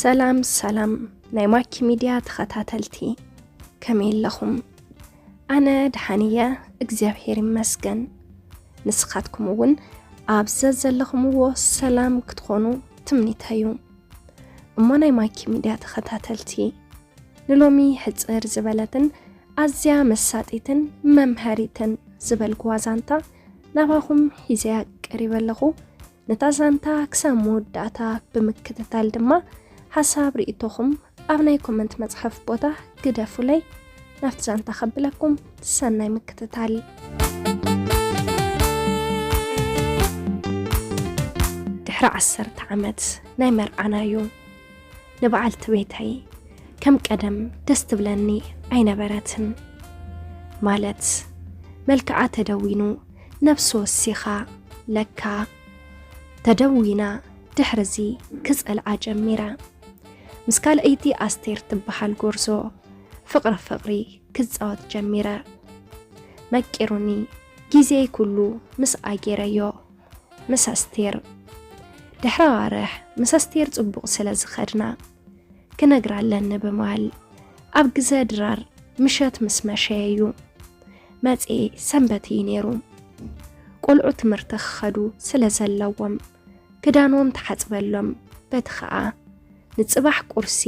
ሰላም ሰላም ናይ ማኪ ሚድያ ተኸታተልቲ ከመይ ኣለኹም? ኣነ ደሓን እየ እግዚኣብሔር ይመስገን። ንስኻትኩም እውን ኣብ ዘዘለኹምዎ ሰላም ክትኾኑ ትምኒተዩ። እሞ ናይ ማኪ ሚድያ ተኸታተልቲ ንሎሚ ሕፅር ዝበለትን ኣዝያ መሳጢትን መምሃሪትን ዝበልኩዋ ዛንታ ናባኹም ሒዘያ ቀሪበ ኣለኹ። ነታ ዛንታ ክሳብ መወዳእታ ብምክትታል ድማ ሓሳብ ርእቶኹም ኣብ ናይ ኮመንት መጽሐፍ ቦታ ግደፉለይ። ናብቲ ዛንታ ከብለኩም ሰናይ ምክትታል። ድሕሪ ዓሰርተ ዓመት ናይ መርዓናዮ ንበዓልቲ ቤተይ ከም ቀደም ደስ ትብለኒ ኣይነበረትን ማለት መልክዓ ተደዊኑ ነብሲ ወሲኻ ለካ ተደዊና ድሕርዚ ክጸልኣ ጀሚረ ምስ ካልኣይቲ ኣስቴር ትበሃል ጎርዞ ፍቕሪ ፍቕሪ ክጻወት ጀሚረ መቂሩኒ ግዜይ ኩሉ ምስ ኣጌረዮ ምስ ኣስቴር ድሕሪ ኣዋርሕ ምስ ኣስቴር ጽቡቕ ስለ ዝኸድና ክነግራ ኣለኒ ብማል ኣብ ግዘ ድራር ምሸት ምስ መሸየዩ መጽኤ ሰንበት እዩ ነይሩ ቆልዑ ትምህርቲ ክኸዱ ስለ ዘለዎም ክዳኖም ተሓጽበሎም በቲ ኸኣ ንጽባሕ ቁርሲ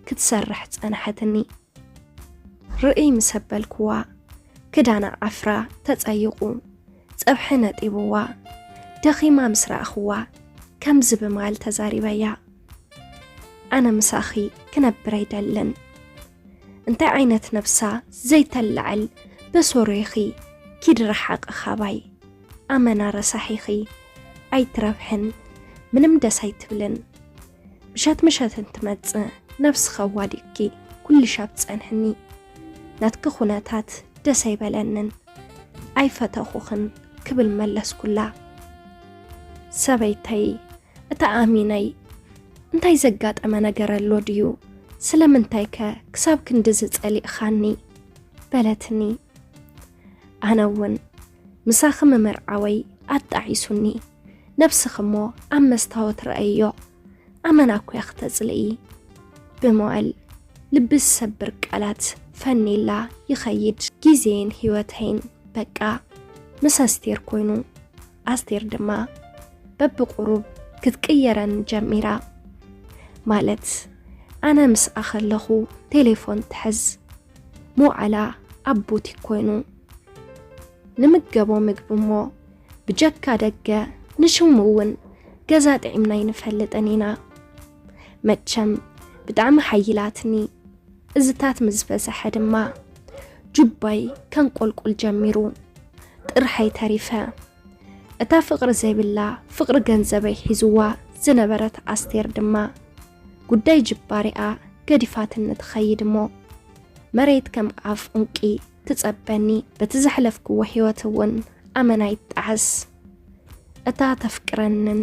ክትሰርሕ ጸንሐትኒ ርእይ ምሰበልክዋ ክዳና ዓፍራ ተጸይቑ ጸብሒ ነጢቡዋ ደኺማ ምስ ረኣኹዋ ከምዚ ብማል ተዛሪበያ፣ ኣነ ምሳኺ ክነብር ኣይደልን፣ እንታይ ዓይነት ነብሳ ዘይተላዕል በሶሮ ኢኺ ኪዲ ረሓቒ ካባይ፣ ኣመና ረሳሕ ኢኺ ኣይትረብሕን ምንም ደስ ኣይትብልን። ምሸት ምሸት እንትመጽእ ነብስኸ ዋዲቅኪ ኩልሻብ ትጸንሕኒ ናትኪ ኩነታት ደስ ኣይበለንን ኣይፈተኹኽን ክብል መለስኩላ ሰበይተይ እታ ኣሚነይ እንታይ ዘጋጠመ ነገር ኣሎ ድዩ ስለምንታይከ ክሳብ ክንድዚ ጸሊእኻኒ በለትኒ ኣነ እውን ምሳኺ ምምርዓወይ ኣጣዒሱኒ። ነብስኺ'ሞ ኣብ መስታወት ርኣይዮ፣ ኣመና እኮ'ያ ክተጽልኢ። ብመዋእል ልቢ ዝሰብር ቃላት ፈንይላ ይኸይድ። ግዜይን ህይወተይን በቃ ምስ ኣስቴር ኮይኑ፣ ኣስቴር ድማ በብቑሩብ ክትቅየረኒ ጀሚራ። ማለት ኣነ ምስኣ ከለኹ ቴሌፎን ትሕዝ፣ ምውዓላ ኣብ ቡቲክ ኮይኑ ንምገቦ ምግቢ እሞ ብጀካ ደገ ንሽሙ እውን ገዛ ጥዒምና ኣይንፈልጥን ኢና መቸም ብጣዕሚ ሓይላትኒ እዝታት ምስ ፈሰሐ ድማ ጁባይ ከንቆልቁል ጀሚሩ ጥርሓይ ተሪፈ እታ ፍቕሪ ዘይብላ ፍቕሪ ገንዘበይ ሒዝዋ ዝነበረት ኣስቴር ድማ ጉዳይ ጅባሪኣ ገዲፋትኒ ትኸይድ እሞ መሬት ከም ኣፍ ዑንቂ ትጸበኒ በቲ ዘሕለፍክዎ ህይወት እውን ኣመና ይጣዓስ እታ ተፍቅረንን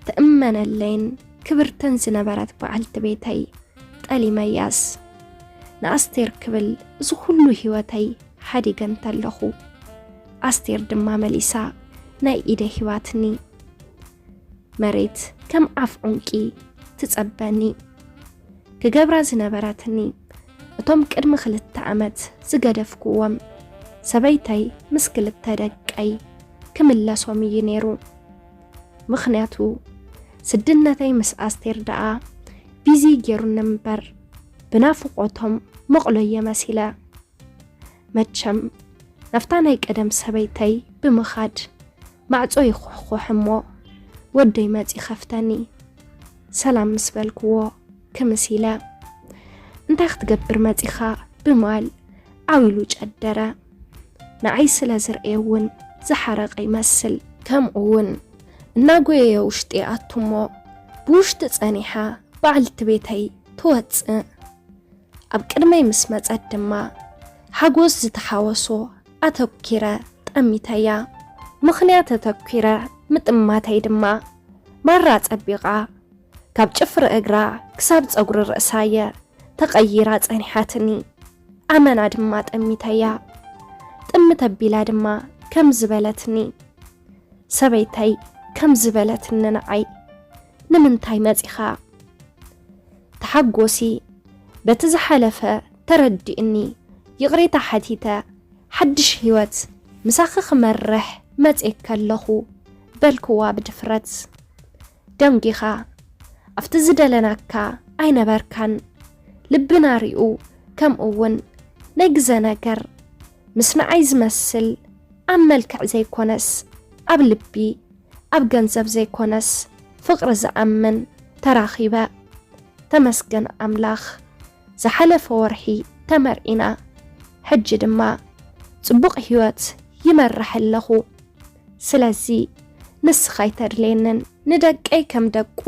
ትእመነለይን ክብርትን ዝነበረት በዓልቲ ቤተይ ጠሊመያስ ንኣስቴር ክብል እዚ ኩሉ ህይወተይ ሓዲገ እንተለኹ ኣስቴር ድማ መሊሳ ናይ ኢደ ሂባትኒ መሬት ከም ኣፍ ዑንቂ ትጸበኒ ክገብራ ዝነበረትኒ እቶም ቅድሚ ክልተ ዓመት ዝገደፍኩዎም ሰበይተይ ምስ ክልተ ደቀይ ክምለሶም እዩ ነይሩ። ምኽንያቱ ስድነተይ ምስ ኣስቴር ደኣ ቢዚ ገይሩኒ እምበር ብናፍቖቶም መቕሎየ መሲለ መቸም ናብታ ናይ ቀደም ሰበይተይ ብምኻድ ማዕጾ ይኹሕኹሕ እሞ ወደይ መጺ ከፍተኒ ሰላም ምስ በልክዎ ክምስ ኢለ እንታይ ክትገብር መጺኻ ብማል ዓው ኢሉ ጨደረ ንዓይ ስለ ዝርኤ እውን ዝሓረቀ ይመስል ከምኡ እውን እናጎየየ ውሽጢ ይኣቱ እሞ ብውሽጢ ጸኒሓ በዓልቲ ቤተይ ትወጽእ ኣብ ቅድመይ ምስ መጸት ድማ ሓጎስ ዝተሓወሶ ኣተኲረ ጠሚተያ። ምኽንያት ኣተኲረ ምጥማተይ ድማ፣ ማራ ጸቢቓ፣ ካብ ጭፍሪ እግራ ክሳብ ጸጉሪ ርእሳ'የ ተቐይራ ጸኒሓትኒ። ኣመና ድማ ጠሚተያ። ጥምት ኣቢላ ድማ ከምዚ በለትኒ። ሰበይተይ ከምዚ በለትኒ ንዓይ፣ ንምንታይ መጺኻ? ተሓጎሲ በቲ ዝሓለፈ ተረዲኡኒ ይቕሬታ ሓቲተ ሓድሽ ህይወት ምሳኺ ክመርሕ መጽየኪ ኣለኹ በልክዋ ብድፍረት። ደንጊኻ ኣብቲ ዝደለናካ ኣይነበርካን ልብና ሪኡ ከምኡ ውን ናይ ግዘ ነገር ምስ ንዓይ ዝመስል ኣብ መልክዕ ዘይኮነስ ኣብ ልቢ ኣብ ገንዘብ ዘይኮነስ ፍቅሪ ዝኣምን ተራኺበ ተመስገን ኣምላኽ ዝሓለፈ ወርሒ ተመርዒና ሕጂ ድማ ጽቡቕ ሂወት ይመርሕ ኣለኹ ስለዚ ንስኻ ኣይተድልየንን። ንደቀይ ከም ደቁ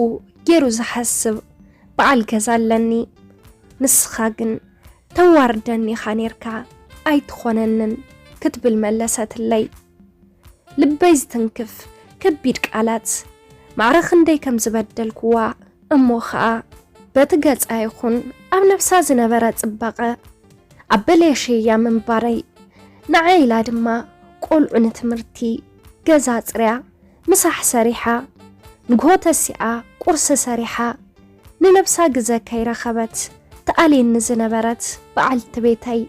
ጌሩ ዝሓስብ በዓል ገዛ ኣለኒ ንስኻ ግን ተዋርደኒ ኢኻ ኔርካ ኣይትኾነንን ክትብል መለሰትለይ። ልበይ ዝትንክፍ ከቢድ ቃላት ማዕረ ክንደይ ከም ዝበደልኩዋ እሞ ኸኣ በቲ ገጻ ይኹን ኣብ ነብሳ ዝነበረ ጽባቐ ኣበለሸያ ምንባረይ ንዓይ ኢላ ድማ ቆልዑ ንትምህርቲ ገዛ ኣጽርያ ምሳሕ ሰሪሓ ንግሆ ተሲኣ ቁርሲ ሰሪሓ ንነብሳ ግዘ ከይረኸበት ትኣልየኒ ዝነበረት በዓልቲ ቤተይ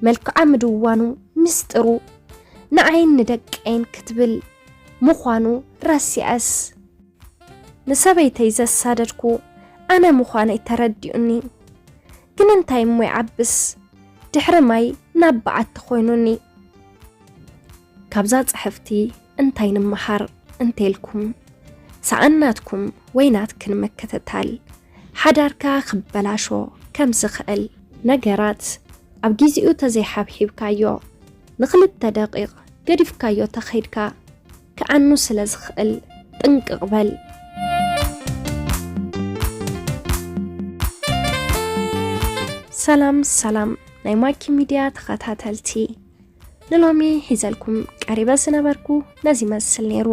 መልክዓ ምድዋኑ ምስጢሩ ንዓይን ንደቀይን ክትብል ምዃኑ ረሲዐስ ንሰበይተይ ዘሳደድኩ ኣነ ምዃነይ ተረዲኡኒ ግን እንታይ እሞ ይዓብስ ድሕሪ ማይ ናብ በዓቲ ኮይኑኒ። ካብዛ ጽሕፍቲ እንታይ ንምሃር እንተልኩም ሰኣን ናትኩም ወይ ናትክን ምክትታል ሓዳርካ ክበላሾ ከም ዝኽእል። ነገራት ኣብ ጊዚኡ ተዘይሓብሒብካዮ ንክልተ ደቂቅ ገዲፍካዮ ተኸይድካ ክዓኑ ስለ ዝኽእል ጥንቅቅ በል። ሰላም ሰላም ናይ ማኪ ሚድያ ተኸታተልቲ ንሎሚ ሒዘልኩም ቀሪበ ዝነበርኩ ነዚ ይመስል ነይሩ።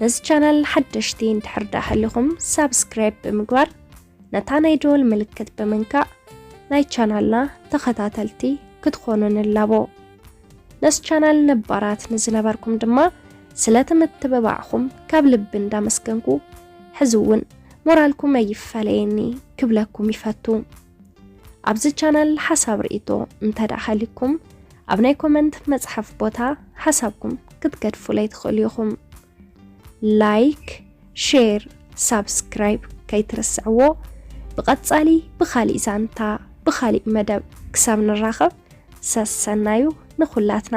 ነዚ ቻናል ሓደሽቲ እንድሕር ደኣ ሃሊኹም ሳብስክራይብ ብምግባር ነታ ናይ ደወል ምልክት ብምንካእ ናይ ቻናልና ተኸታተልቲ ክትኾኑ ንላቦ። ነዚ ቻናል ነባራት ንዝነበርኩም ድማ ስለቲ ምትብባዕኹም ካብ ልቢ እንዳመስገንኩ ሕዚ እውን ሞራልኩም ኣይፋለየኒ ክብለኩም ይፈቱ። ኣብዚ ቻናል ሓሳብ ርእይቶ እንተድኣ ሃልዩኩም ኣብ ናይ ኮመንት መጽሓፍ ቦታ ሓሳብኩም ክትገድፉለይ ትኽእሉ ኢኹም። ላይክ፣ ሼር፣ ሳብስክራይብ ከይትርስዕዎ። ብቐጻሊ ብኻሊእ ዛንታ ብኻሊእ መደብ ክሳብ ንራኸብ ሰሰናዩ ንኹላትና።